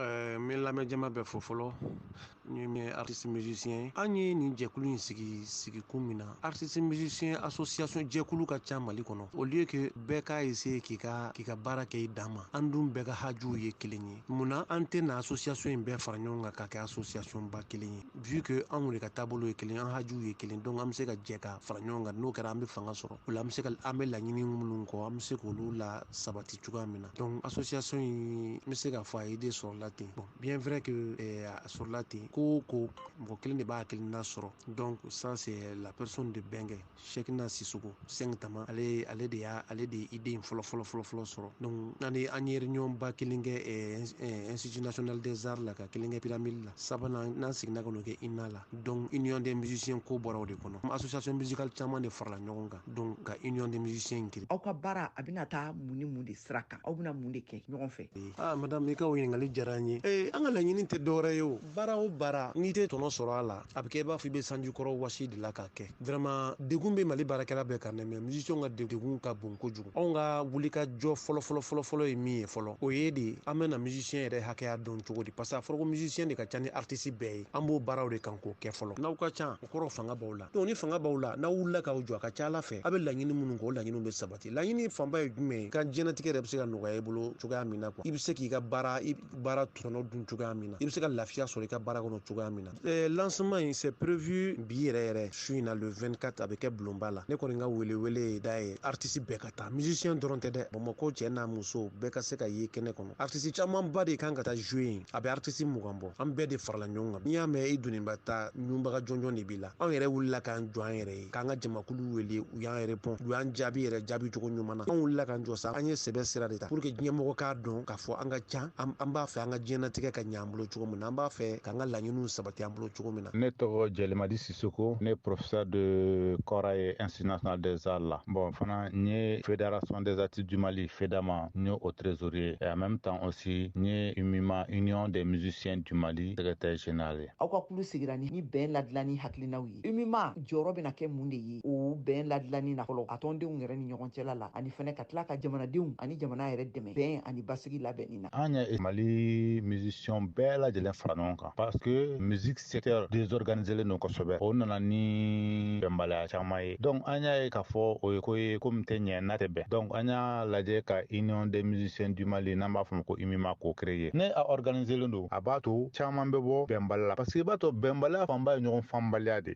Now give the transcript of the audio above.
Eh, n bɛ lamɛn jama bɛɛ fo fɔlɔ ni min ye artiste musicien an ye nin jɛkulu in sigi sigi kun min na artiste musicien association jɛkulu ka ca mali kɔnɔ au lieu que bɛɛ k'a essayer k'i ka k'i ka baara kɛ i dan ma an dun bɛɛ ka hajuw ye kelen ye mun na an tɛ na association in bɛɛ fara ɲɔgɔn kan ka kɛ association ba kelen ye vu que anw de ka taabolo ye kelen an hajuw ye kelen donc an bɛ se ka jɛ ka fara ɲɔgɔn kan n'o kɛra an bɛ fanga sɔrɔ o la an bɛ se ka an bɛ laɲini minnu kɔ an bɛ se k'olu lasabati cogoya min na donc association in n bɛ se k'a fɔ a idée sɔrɔla ten bon bien vrai que eh, a sɔrɔla ten ko o ko mɔgɔ kelen de b'a hakilina sɔrɔ donc ça c'est la personne de bɛnkɛ cheickna sisoko cinq tama ale ale de y'a ale de ye idée in fɔlɔ fɔlɔ fɔlɔ fɔlɔ sɔrɔ donc an ye an ye réunion ba kelen kɛ eh, eh, institut national des arts la ka kelen kɛ pyramide la sabanan n'an seginna ka n'o kɛ ina la donc union des musiciens ko bɔra o de kɔnɔ association musicale caman de farala ɲɔgɔn kan donc ka union des musiciens in créer aw ka baara a bɛna taa mun ni mun de sira kan aw bɛna mun de kɛ ɲɔgɔn fɛ aa madame i ka o ɲininkali diyara an ye ee an ka laɲini tɛ dɔwɛrɛ ye o baara o baara n'i tɛ tɔnɔ sɔrɔ a la a bɛ kɛ i b'a fɔ i bɛ sanji kɔrɔ wasi de la k'a kɛ vraiment degun bɛ mali baarakɛla bɛɛ kan dɛ mais musicien ka degun ka bon kojugu anw ka wulikajɔ fɔlɔfɔlɔfɔlɔfɔlɔ ye min ye fɔlɔ o ye de an bɛna musicien yɛrɛ hakɛya dɔn cogo di parce que a fɔra ko musicien de ka ca ni artiste bɛɛ ye an b'o baaraw de kan k'o kɛ fɔlɔ n'aw ka ca kɔrɔ fanga b'aw la donc ni fanga b'aw la n'aw wulila k'aw jɔ a ka ca ala fɛ a bɛ laɲini minnu kɔ o laɲiniw bɛ sabati laɲini fanba ye jumɛn ye ka diɲɛnatigɛ yɛrɛ bɛ se ka nɔgɔya i bolo cogoya min na quoi i bɛ se k'i ka baara baara tɔnɔ dun cogoya min na i bɛ se ka lafiya sɔrɔ i ka baara kɔnɔ cogoya min na lancement in c'est prévu bi yɛrɛ yɛrɛ su in na le 24 a bɛ kɛ bulonba la ne kɔni ka wele wele ye da ye artiste bɛɛ ka taa musicien dɔrɔn tɛ dɛ bamakɔ cɛ n'a muso bɛɛ ka se ka ye kɛnɛ kɔnɔ artiste camanba de kan ka taa jouer yen a bɛ artiste mugan bɔ an bɛɛ de farala ɲɔgɔn kan n'i y'a mɛn i doniba ta ɲunbaga jɔnjɔn de b'i la anw yɛrɛ wulila k'an jɔ an yɛrɛ ye k'an ka jamakulu wele u y'an répond u y'an jaabi yɛrɛ jaabi cogo ɲuman na anw wulila k'an jɔ sa an ye sɛbɛ sira de ta pour que ɲɛmɔgɔ k'a dɔn k'a fɔ an ka can an b'a fɛ an ka diɲɛnatigɛ ka ɲa bolo cogo min na an b'a fɛ k'an ka laɲiniw sabati an bolo cogo min na ne tɔgɔ jɛlimadi sisoko ne professeur de kɔra ye institut national des arts la bon fana n ye fédération des artistes du mali fedama n ye o trésorier et en même temps aussi n ye umima union des musiciens du mali secrétaire général ye aw ka kulu sigira ni ni bɛn ladilanni hakilinaw ye umima jɔyɔrɔ bɛna kɛ mun de ye o bɛn ladilanni na fɔlɔ a tɔndenw yɛrɛ ni ɲɔgɔn cɛla la ani fana ka tila ka jamanadenw ani jamana yɛrɛ dɛmɛ bɛn ani basigi labɛnni in an ye mali musicien bɛɛ lajɛlen fara ɲɔgɔn kan parce que musique secteur désorganiselen don kosɛbɛ o nana ni bɛnbaliya caman ye donc an y'a ye k'a fɔ o ye ko ye ko min tɛ ɲɛ n'a tɛ bɛn donc an y'a lajɛ ka union des musiciens du mali n'an b'a fɔ ma ko umima k'o créer ni a organiselen don a b'a to caman bɛ bɔ bɛnbali la parce que i b'a to bɛnbaliya fanba ye ɲɔgɔn faamubaliya de